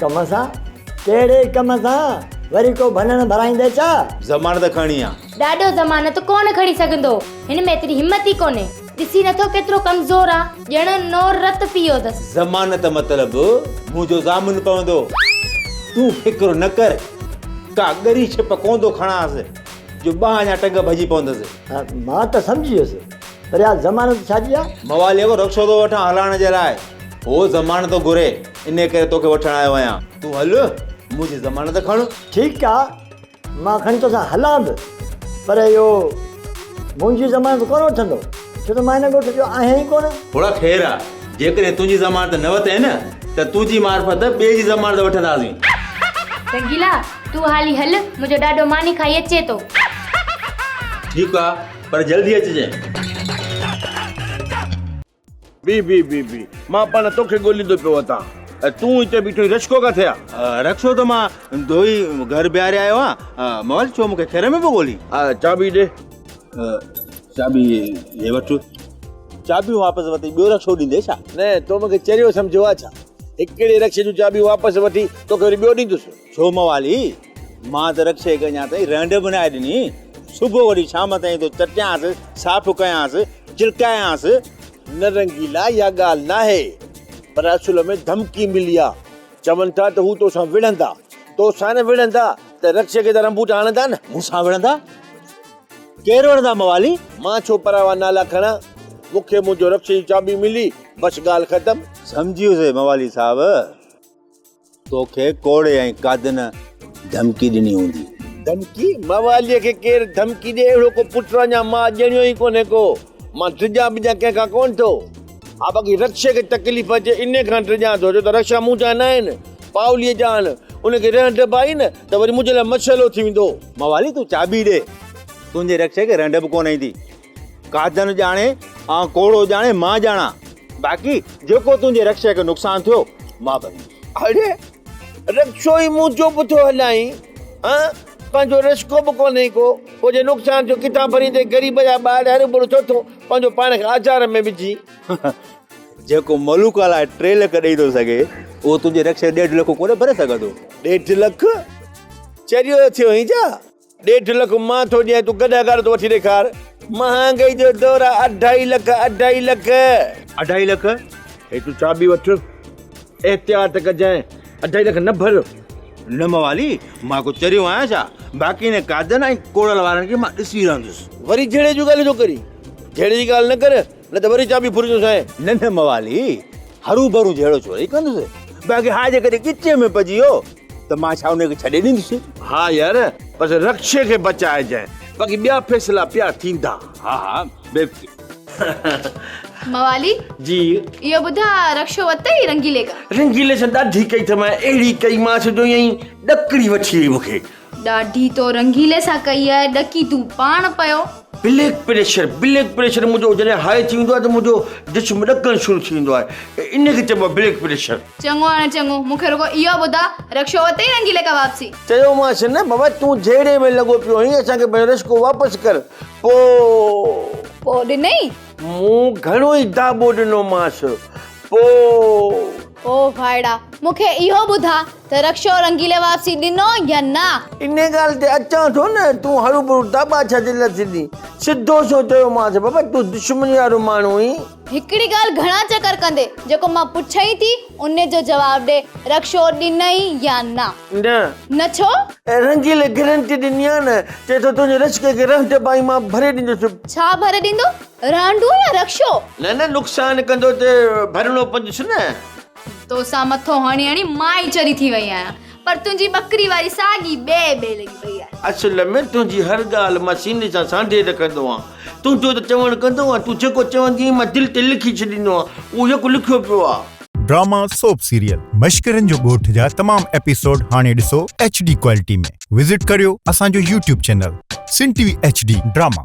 ڪم سان؟ ڪهڙي ڪم سان؟ وري ڪو ڀنڻ ڀرائيندي ڇا؟ ضمانت کڻي آ. ڏاڏو ضمانت ڪونه کڻي سگهندو. هن ۾ ايتري همت ئي ڪونهي. ڏسي نه ٿو ڪيترو ڪمزور آ. ڄڻ نور رت پي ويو اٿس. ضمانت مطلب منهنجو ضامن پوندو. تون فڪر نه ڪر. ڪا ڳري ڇپ ڪوندو کڻانس جو ٻانهن يا ٽنگ ڀڄي پوندس. مان ته سمجهي ويس. پر يار ضمانت ڇا جي آ؟ مواليء کان رخصو ٿو وٺان هلائڻ جي لاء. هو ضمانت ٿو گهري. انهيء ڪري توکي وٺڻ آيو آهيان. تون هل، منهنجي ضمانت کڻ. ٺيڪ آ، مان کڻي توسان هلان به، پر اهو منهنجي ضمانت ڪونه وٺندو، ڇو ته مان هن ڳوٺ جو آهيان ئي ڪونه. ڦوڙا خير آ، جيڪڏهن تنهنجي ضمانت نه وتئين نه، ته تنهنجي معرفت ٻئي جي ضمانت وٺنداسين. رنگيلا، تون هالي هل، منهنجو ڏاڏو ماني کائي اچي ٿو. ٺيڪ آ، پر جلدي اچجانء. بيهه بيهه بيهه بيهه مان پاڻ توکي ڳوليندو پيو اٿان ۽ تون هتي بيٺو آهين رڪشو ڪاٿي آهي؟ رڪشو ته مان ڌوئي گهر بيهاري آيو آهيان مول ڇو مونکي کير ۾ پيو ڳولين؟ چاٻي ڏي. چاٻي هي وٺ. چاٻيون واپس وتي ٻيو رڪشو ڏيندي ڇا؟ نه تو مونکي چريو سمجهيو آهي ڇا؟ هڪڙي رڪشي جون چاٻيون واپس وٺي توکي وري ٻيو ڏيندس. ڇو موالي مان ته رڪشي کي اڃا تائين رهنڊ به ناهي ڏني. صبح وٺي شام تائين تو چٽيانس، صاف ڪيانس، چرڪايانس. نه رنگيلا اها ڳالهه ناهي پر اصل ۾ ڌمڪي ملي آ. چون ٿا ته هو توسان وڙهندا. توسان نه وڙهندا ته رڪشي کي ته رنبوٽ هڻندا نه. مون سان وڙهندا؟ ڪير وڙهندا موالي؟ مان ڇو پراوا نالا کڻان. مون کي منهنجو رڪشي جي چاٻي ملي بس ڳالهه ختم. سمجهيو سي موالي صاحب. توکي ڪوڙي ۽ ڪاڌ نه ڌمڪي ڏني هوندي. ڌمڪي؟ مواليء کي ڪير ڌمڪي ڏئي اهڙو ڪو پٽ ران يا ماء ڄڻيو ئي ڪونهي ڪو. مان ڊڄان بڄان ڪنهن کان ڪونه ٿو. ها باقي رڪشي کي تڪليف اچي انهي کان ڊڄان ٿو ڇو ته رڪشا مون جا ناهن پائوليء جا آهن. ان کي رنهه ڊڀ آئي نه ته وري منهنجي لاء مشعلو ٿي ويندو. موالي تون چاٻي ڏي. تنهنجي رڪشي کي رنهه ڊڀ ڪونه ايندي. ڪاڌن ڄاڻي آئون ڪوڙو ڄاڻي مان ڄاڻان باقي جيڪو تنهنجي رڪشي کي نقصان ٿيو مان ڀريندس اڙي رڪشو ئي مون چپ ٿو هلائين هان پنهنجو رسڪو به ڪونهي ڪو پوء جي نقصان ٿيو ڪٿان ڀريندين غريب جا ٻار هر ٻڙو ڇو ٿو پنهنجو پاڻ کي آزار ۾ وجهي جيڪو ملوڪ لاء ٽي لک ڏئي ٿو سگهي اهو تنهنجي رڪشي ڏيڍ لک ڪونهي ڀري سگهندو ڏيڍ لک چريو ٿيو هين ڇا ڏيڍ لک مان ٿو ڏيان تون ڪڏهن اگهاڙو ٿو وٺي ڏيکار. مهانگائي جو دور آ اڍائي لک اڍائي لک. اڍائي لک؟ هي تون چابي وٺ احتياط ڪجانء اڍائي لک نه ڀر. نه موالي مان ڪو چريو آهيان ڇا؟ باقي هن قاعدن ۽ ڪوڙل وارن کي مان ڏسي رهندس. وري جهيڙي جون ڳالهيون ٿو ڪرين جهيڙي جي ڳالهه نه ڪر نه ته وري چابي ڦرجون سائين. نه نه موالي هروڀرو جهيڙو ڇو رئي ڪندس. باقي ها جيڪڏهن ڳچيء ۾ پئجي ويو ته مان ڇا ان کي ڇڏي ڏيندس. ها يار بس رڪشي کي بچائجانء باقي ٻيا فيصلا پيا ٿيندا. ها ها بيوقي. موالي جي. اهو ٻڌاء رڪشو ورتئي رنگيلي کان. رنگيلي سان ڏاڍي ڪئي ٿمانء اهڙي ڪئي مانس جو ائين ئي ڏڪڻي وٺي وئي مون کي. ڏاڍي تو رنگيلي سان ڪئي آهي ڏڪي تون پاڻ پيو. بليڪ پريشر بليڪ پريشر منهنجو جڏهن هاء ٿي ويندو آهي ته منهنجو جسم ڏڪڻ شروع ٿي ويندو آهي ان کي چئبو آهي بليڪ پريشر. چڱو هاڻي چڱو مون کي رڳو اهو ٻڌاء رڪشو ورتئي رنگيلي کان واپسي. چيومانس نه بابا تون جهيڙي ۾ لڳو پيو هئين اسان کي پنهنجو رشڪو واپس ڪر پو. پو ڏنئي؟ مون گهڻو ئي داٻو ڏنومانس پو. او ڀائڙا مون کي اهو ٻڌاء ته رڪشو رنگيلي واپسي ڏنو يا نه؟ ان ڳالهه تي اچان ٿو نه، تون هروڀرو داٻا ڇا تي نه ٿيندين. سڌو سنئون چيومانس، بابا تون دشمني وارو ماڻهو آهين. هڪڙي ڳالهه گهڻا چڪر ڪندي، جيڪو مان پڇئين ٿي، ان جو جواب ڏي، رڪشو ڏنئي يا نه؟ نه. نه ڇو؟ ۽ رنگيلي گرنٽي ڏني آهي نه، چئي ٿو تنهنجي رشڪي کي رهنڊ پائي مان ڀري ڏيندس. ڇا ڀري ڏيندو؟ رهنڊون يا رڪشو؟ نه نه نقصان ڪندو ته ڀرڻو پوندس نه. تو سان مٿو هڻي هڻي مان ئي چري ٿي وئي آهيان پر تنهنجي ٻڪري واري ساڳي ٻي ٻي لڳي پئي آهي. اصل ۾ تنهنجي هر ڳالهه مان سيني سان سانڍي رکندو آهيان. تنهنجو ته چوڻ ڪندو آهيان، تون جيڪو چوندي آهين مان دل تي لکي ڇڏيندو آهيان، اهو يڪ لکيو پيو آهي. ڊراما سوپ سيريل مشڪرين جو ڳوٺ جا تمام ايپيسوڊ هاڻي ڏسو ايڇ ڊي ڪوالٽي ۾ وزٽ ڪريو اسان جو YouTube channel Sun T V H D drama.